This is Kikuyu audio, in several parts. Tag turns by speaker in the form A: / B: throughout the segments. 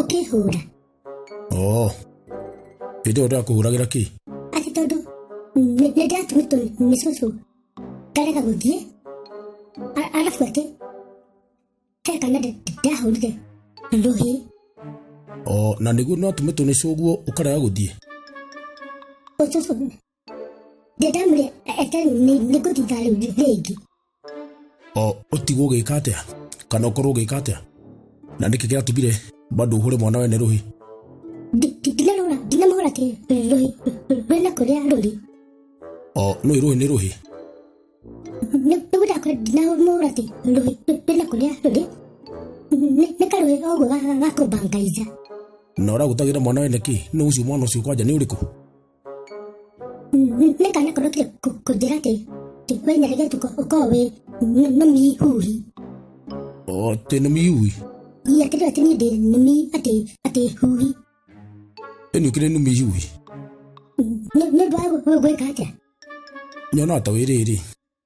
A: ũkĩhũra oo
B: ĩndĩ ũndũ akũhũragĩra kĩ atĩ tondũ
A: nĩ- nĩ ndĩratũmĩtwo nĩ cũcũ ngarega gũthiĩ A- arabu atĩ he kana ndĩ- ndĩrahũrire rũhĩ
B: oo na nĩguo nĩwatũmĩtwo nĩ cũguo ũkarega gũthiĩ
A: ũcũcũ ndĩndamũrĩ eke nĩ ngũtinda rĩu rĩngĩ
B: ũtigwo ũgĩka atĩa kana ũkorwo ũgĩka atĩa na nĩkĩ gĩatũmire bado ũhũre mwana we nĩ rũhi ndinamũhũra
A: ndinamũhũra atĩ rũhi rũrĩ na kũrĩa rũrĩ
B: nĩ rũhi nĩ rũhi
A: nĩgũdakora ndinamũhũra atĩ rũhi rũrĩ na kũrĩa rũrĩ nĩ karũĩ oguo gakũmbangaica na
B: ũragũtagĩra mwana we nĩkĩ nĩ ũcio mwana ũcio kwanja nĩ ũrĩkũ
A: Nĩka nako ndokire kũnjĩra atĩ we nyaregetũ ũkorwo wĩ nũmĩihui.
B: Atĩ nũmĩihui? Ii atĩ rĩu atĩ niĩ
A: ndĩ nũmi atĩ atĩ hui.
B: Ĩni ũkĩrĩ nũmĩihui?
A: Nĩ ũndũ wa gwĩka atĩa? Nyona
B: ta wĩ rĩrĩ.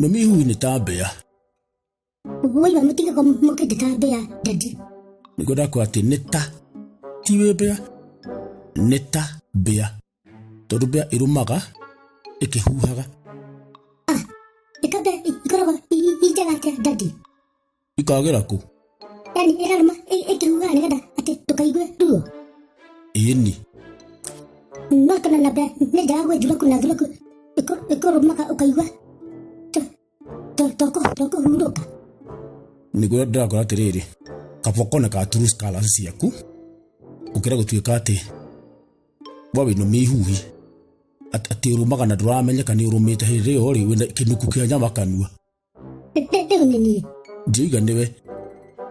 B: Mami ihu nĩ ta mbĩa.
A: Waiga mũtige kwa mũke ndĩ ta mbĩa ndadi. Nĩguo ndakwa
B: atĩ nĩ ta ti wĩ mbĩa nĩ ta mbĩa tondũ mbĩa ĩrũmaga ĩkĩhuhaga. Ah,
A: ĩkambe ikoragwo i njega atĩa ndadi. ikagera
B: kũ yani ĩrarũma
A: ĩ- ĩkĩhuhaga nĩgetha atĩ ndũkaigue ruo ĩni no kana labda nĩ njega gwĩ thuraku na thuraku ĩkũ- ĩkũrũmaga ũkaigua to- to- tokũ- tokũhurũka
B: nĩguo ndĩrakora atĩrĩrĩ kaba ũkone ka true scholars ciaku ũkĩra gũtuĩka atĩ we wĩna mĩhuhi At- atĩ ũrũmaga na ndũramenyeka nĩ ũrũmĩte hĩndĩ ĩyo rĩ wĩna kĩnuku kĩa nyama kanua
A: ndĩgũnĩ niĩ Jeiga nĩwe.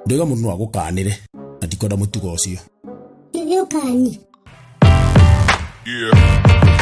B: Ndega mũndũ no agũkanĩre. Na ndikwenda mũtugo ũcio. gĩũkani Yeah.